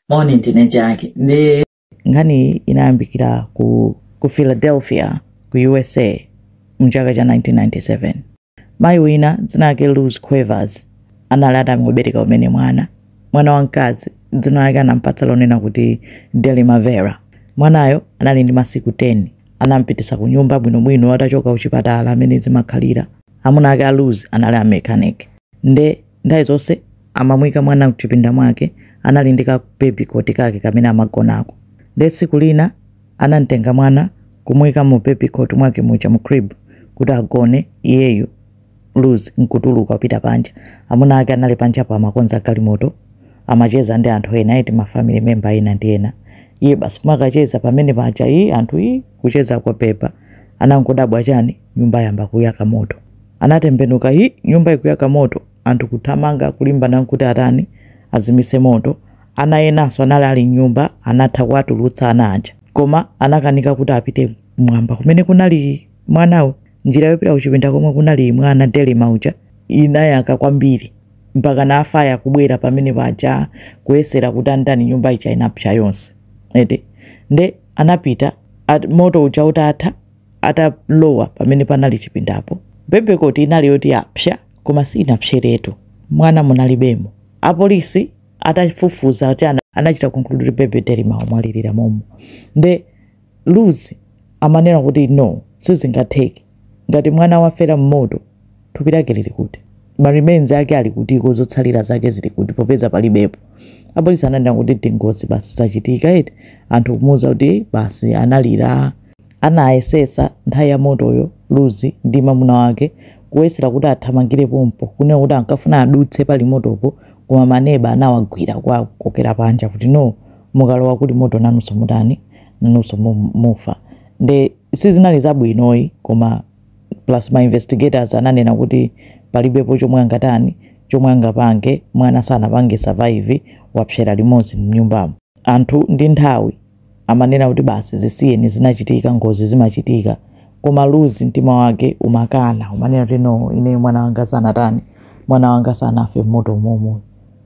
moni ndine jaki nde nkhaniyi inayambikira ku, ku philadelphia ku usa mchaka cha 1997 mayi wina dzina lake luz cuevas anali atangobereka umene mwana mwana wamkazi dzina lake anampatsa lonena kuti delimar vera mwanayo anali ndi masiku 10 anampititsa ku nyumba bwinobwino atachoka kuchipatala amene zimakhalira amuna ake a luz anali a mechanic nde Nthawi zonse amamuika mwana mchipinda mwake, anali ndi ka baby cot kake kamene amagonako. Nde tsiku lina anamtenga mwana kumuika mu baby cot mwake muja mu crib kuti agone iyeyu Luz nkutuluka kupita panja. Amuna ake anali panjapo amakonza galimoto, amacheza ndi anthu ena eti ma family member ena ndi ena. Iye basi kumakacheza pamene paja ii anthu ii kucheza kubheba. Anangodabwa chani nyumba yayamba kuyaka moto. Anatembenuka, hi, nyumba ikuyaka moto, anthu kuthamanga kulimbana nkuti atani, azimise moto. Ana enanso anali ali m'nyumba, anatha kuwatulutsa ana aja. Koma anakanika kuti apite kumwamba kumene kunali mwanawo. Njira yopita kuchipinda komwe kunali mwana Delimar uja inayaka kwambiri mpaka na afaya kubwera pamene paja kuyesera kuti atani nyumba ija inapsa yonse eti nde anapita at, moto uja utatha atalowa pamene panali chipindapo baby cot inali yoti yapsa koma sinapseretu mwana munalibemo apolisi atafufuza kuti ana- anachita conclude kuti baby delimar wamwalilira momo nde luz amanena kuti no sizingatheke ngati mwana wafera mmoto Thupi lake lili kuti? Ma remains ake ali kutiko? Zotsalira zake zili kuti popeza palibepo? Apolisi ananena kuti ndi ngozi basi, zachitika eti. Anthu kumuuza kuti basi analira, anayesesa nthawi ya motoyo Luz ndi mamuna wake kuyesera kuti athamangire pompo kunena kuti ankafuna adutse pali motopo koma ma neba anawagwira kuwakokera panja kuti no mukalowa kuli moto nanunso mutani, nanunso mufa. Nde sizinali zabwinoyi koma. plus ma investigators ananena kuti palibepo chomwe angatani chomwe angapange mwana sanapange survive wapsera limodzi mnyumbamo anthu ndi nthawi amanena kuti basi zisiyeni zinachitika ngozi zimachitika koma Luz mtima wake umakana umanena kuti no ineyo mwana wanga sanatani mwana wanga sanafe mmoto momoyi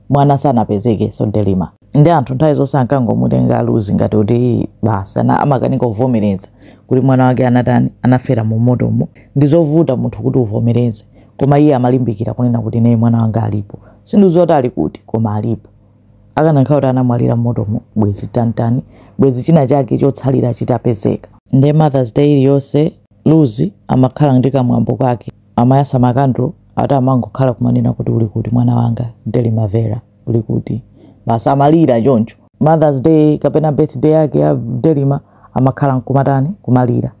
mwana sanapezekenso Delimar. nde anthu nthawi zonse ankangomutenga a luz ngati kuti basi ana amakanika kuvomereza kuti mwana wake anatani anafera mu motomo ndi zovuta munthu kuti uvomereze koma iye amalimbikira kunena kuti nayi mwana wanga alipo sindidziwa kuti ali kuti koma alipo akanakhala kuti anamwalira mmotomo bwezi titani bwezi china chake chotsalira chitapezeka nde mothers day iliyonse luz amakhala ndi kamwambo kake amayasa makandulo ati amangokhala kumanena kuti uli kuti mwana wanga delimar vera uli kuti basi amalira choncho mothers day kapena birthday yake ya delima amakhala nkumatani kumalira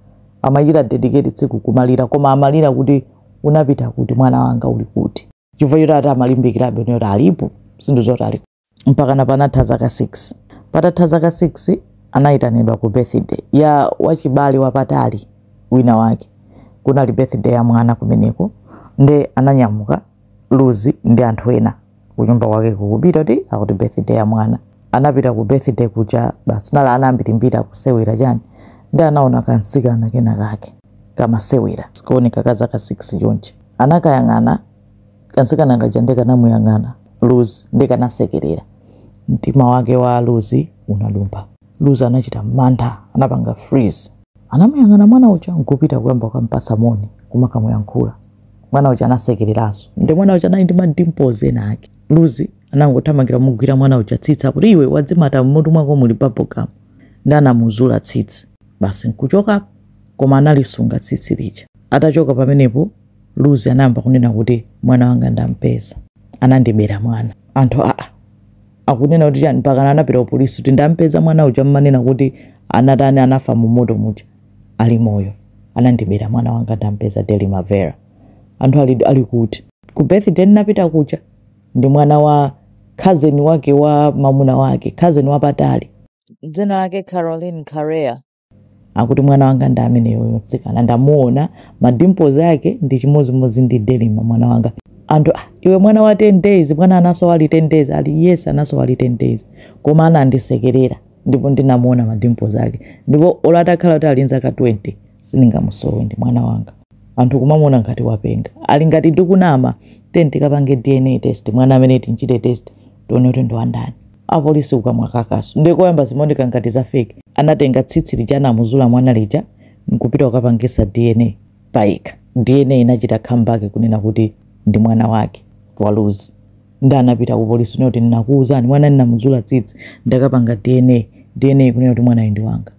amachita dedicate tsiku kumalira koma amalira kuti unapita kuti mwana wanga uli kuti chifukwa choti ati amalimbikirabe kuti alipo sikuti zoti ali mpakana panatha zaka 6 patatha zaka 6 anayitanidwa ku birthday ya wachibale wapatali wina wake kunali birthday ya mwana kumeneko nde ananyamuka luzi ndi anthu ena kunyumba kwake kupita kuti akuti birthday ya mwana anapita ku birthday kuja basi kunali ana ambirimbiri akusewera chani nde anaona kansikana kena kake kamasewera koma kooneka ka zaka 6 chonchi anakayang'ana kansikana kaja nde kanamuyang'ana luzi nde kanasekerera mtima wake wa luzi unadumpha luzi anachita mantha anapanga freeze anamuyang'ana mwana uja nkupita kuyamba kukampasa moni kumakamuyankhula mwana uja anasekereranso nde mwana uja anali ndi madimpozi ena ake luzi anangothamangira kumugwira mwana uja tsitsi akuti iwe wadzimata m'mutu mwako muli bubblegum nde anamuzula tsitsi basi nkuchokapo koma analisunga tsitsi lija atachoka pamenepo luzi anayamba kunena kuti mwana wanga ndampeza anandibera mwana anthu aa akunena kuti chani mpakana anapita ku polisi kuti ndampeza mwana uja mmanena kuti anatani anafa mu moto muja Ali moyo anandibera mwana wanga ndampeza Delima Vera. Anthu ali ali kuti? Ku birthday ndinapita kuja ndi mwana wa cousin wake wa mamuna wake, cousin wapatali. Dzina lake Carolyn Correa. Akuti mwana wanga ndi ameneyo mtsikana ndamuona ma dimples ake ndi chimodzimodzi ndi Delima mwana wanga. Anthu ah iwe mwana wa 10 days mwana anasowa ali 10 days ali yes anasowa ali 10 days koma anandisekerera. ndipo ndinamuona ma dimples ake ndipo olo atakhala kuti ali nzaka 20 sindingamusowe ndi mwana wanga anthu kumamuona ngati wapenga ali ngati ndikunama tiyeni tikapange dna test mwana ameneyo timchite test tione kuti ndi wandani apolisi kukamwa kakaso ndiye koyamba zimaoneka ngati za fake anatenga tsitsi lija anamuzula mwana lija nkupita kukapangisa dna payekha dna inachita come back kunena kuti ndi mwana wake wa luzi nde anapita ku polisi kunena kuti ndinakuuzani mwana ndinamuzula tsitsi ndakapanga dna dna ikunena kuti mwanayo ndi wanga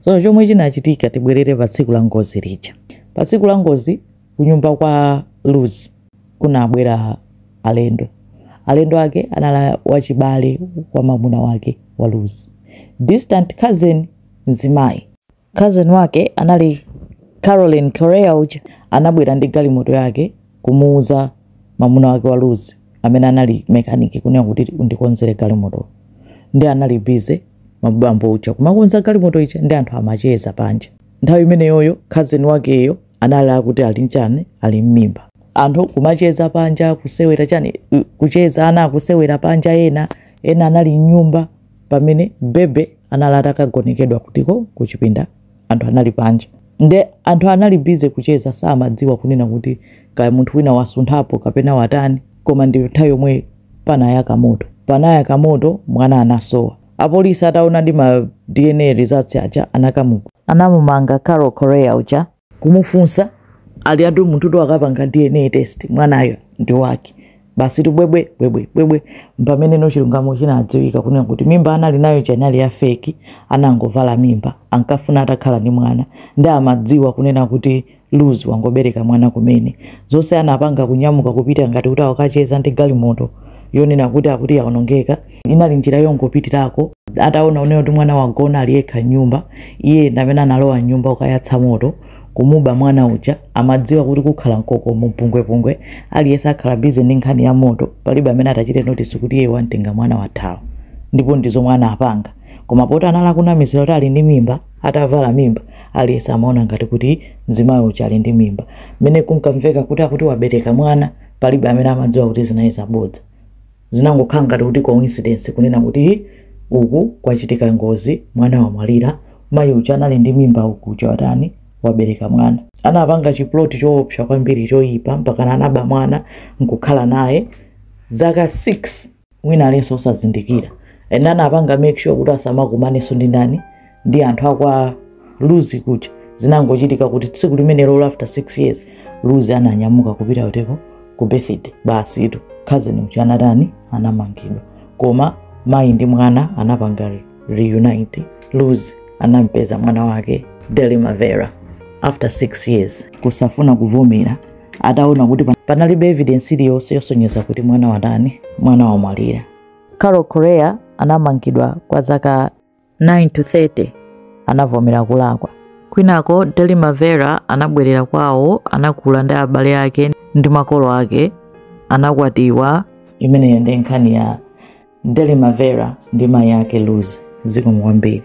so chomwe chinachitika tibwerere pa tsiku la ngozi lija pa tsiku la ngozi kunyumba kwa luz kunabwera alendo alendo ake anali wachibale wa mamuna wake wa luz distant cousin mzimayi Cousin wake anali Carolyn Correa uja anabwera ndi galimoto yake kumuuza mamuna wake wa Luz amene anali mechanic kunena kuti undikonzere galimoto ndi anali busy mabambo uja kumakonza galimoto ija ndi anthu amacheza panja nthawi imeneyoyo cousin wakeyo anali akuti ali nchani ali mmimba anthu kumacheza panja kusewera chani kucheza ana akusewera panja ena ena anali mnyumba pamene bebe anali atakagonekedwa kutiko kuchipinda anthu anali panja nde anthu anali busy kucheza samadziwa kunena kuti kaya munthu wina wasunthapo kapena watani koma ndi nthawi yomwe panayaka moto panayaka moto mwana anasowa apolisi ataonadi ma dna results aja anakamu anamumanga carol correa uja kumufunsa ali atu munthu tu akapanga dna test mwanayo ndi wake basi tubwebwe bwebwe bwebwe mpameneno chilungamo chinadziwika kunena kuti mimba anali nayo ija inali ya fake anangovala mimba ankafuna atakhala ndi mwana ndi amadziwa kunena kuti luz wangobereka mwana kumene zonse anapanga kunyamuka kupita ngati kuti akacheza ndi galimoto yonena kuti akuti yaonongeka inali njira yongopitirako ataona kunena kuti mwana wagona ali yekha mnyumba iye ndamene analowa mnyumba kukayatsa moto kumuba mwana uja amadziwa kuti kukhala mkoko mpungwepungwe aliyense akhala busy ndi nkhani ya moto palibe amene atachite notice kuti iye wamtenga mwana wathawa ndipo ndi zomwe anapanga koma poti anali akunamizira kuti ali ndi mimba atavala mimba aliyense amaona ngati kuti mzimayi uja ali ndi mimba mmene kunkamveka kuti akuti wabereka mwana palibe amene amadziwa kuti zinali zabodza Zinangokhala ngati kuti coincidence kunena kuti hi uku kwachitika ngozi mwana wamwalira, mayi uja anali ndi mimba uku uja watani wabereka mwana. Anapanga chi plot choopsa kwambiri choipa mpakana anaba mwana nkukhala naye zaka 6 wina aliyense osazindikira and anapanga make sure kuti asamakumanenso ndi ndani ndi anthu akwa luz kuja zinangochitika kuti tsiku limenelo after 6 years luz ananyamuka kupita kuteko ku birthday basitu cousin uja anatani anamangidwa koma mayi ndi mwana anapanga reunite luz anampeza mwana wake delimar vera after 6 years kusafuna kuvomera ataona kuti pa- panalibe evidence iliyonse yosonyeza kuti mwana watani mwana wamwalira carol correa anamangidwa kwa zaka 9 to 30 anavomera kulakwa kwinako delimar vera anabwerera kwawo anakula ndi abale ake ndi makolo ake anakwatiwa imeneyo ndi nkhani ya delimar vera ndi mayi ake luz zikomo kwambiri